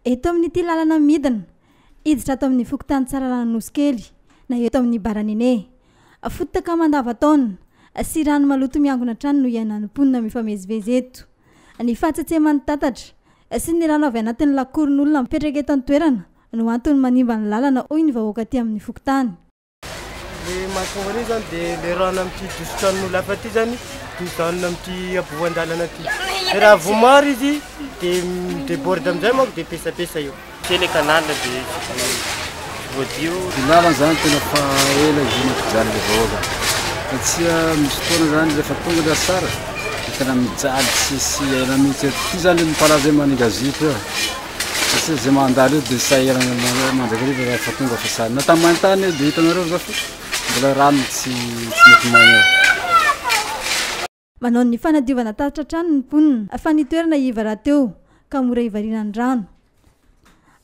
Eto amin'ity lalana midina, hiditra ato amin'ny fokontany Tsaralana Anosikely na eto amin'ny Baranene. Fotaka mandavan-taona sy rano maloto miangona hatrany no iainan'ny mponina mifamezivezy eto. Ny fahatsetseman'ny tatatra sy ny rano avy anatin'ny lakoron'olona mipetraka eto an-toerana no antony manimba ny lalana hoy ny vahoaka aty amin'ny fokontany. Ilay mahatonga an'io izany dia ilay rano amin'ity dositranon'olona hafa ity izany dia mijanona amin'ity aboan-dalana ity. Dia raha vao maro izy dia mi-déborde amin'izay manko dia pesapesa io. Tsy ilay canal dia voadio. Ny lalana izany tena fa ela ivon'ny mpijaly ilay vahoaka. Satria misy fotoana izany rehefa tonga ilay asara dia tena mijaly tsisy aina mihitsy. Ity izany ilay mipalaza hoe maninga zipo eo. Izay izay mandalo eo dia sahirana mandrakariva raha efa tonga fa sahirana. Na tamin'ny main-tany eo dia hitanareo izao fa mbola rano tsy tsy mety maina eo. Manao ny fanadiovana tatitra trano ny mponina fa ny toerana iva rahateo ka mora ivariana ny rano.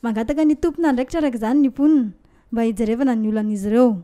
Mangataka ny tompon'andraikitra araka izany ny mponina mba hijerevana ny olan'izy ireo.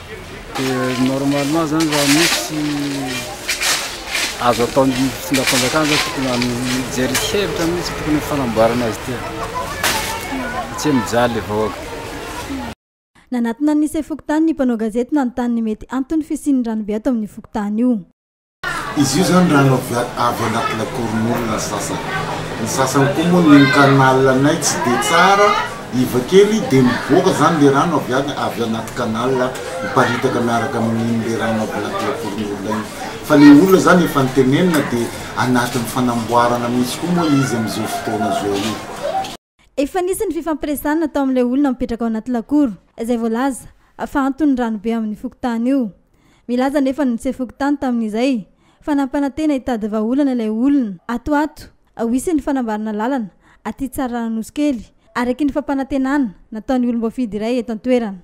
Dia normalement zany raha misy azo atao ny fitondram-panjakana zany tokony mijery hevitra mihitsy tokony fanamboarana azy ity. Tsy hoe mijaly le vahoaka. Nanatona ny Nice fokontany ny mpanao gazety nanontany ny mety anton'ny fisian'ny ranobe ato amin'ny fokontany io. Izy io zany rano avy avy anaty lakoron'olona ny sasany, ny sasany koa moa ny canal anay tsy de tsara, iva kely de mivoaka zany le rano avy any avy anaty canal miparitaka miaraka amin'iny le rano avy anaty lakoron'olona iny, fa le olona zany efa nitenenina de anatin'ny fanamboarana mihintsy koa moa izy amin'izao fotoana zao io. Efa nisy ny fifampiresahana natao amin'ilay olona mipetraka ao anaty lakoro, izay voalaza fa anton'ny ranobe amin'io fokontany io. Milaza anefa ny mtse fokontany tamin'izay fa nampanantena hitady vahaolana ilay olona. Ato ato, ho hisy ny fanamboarana lalana aty Tsararananosikely, araky ny fampanantenana nataon'ny olom-boafidy iray eto an-toerana.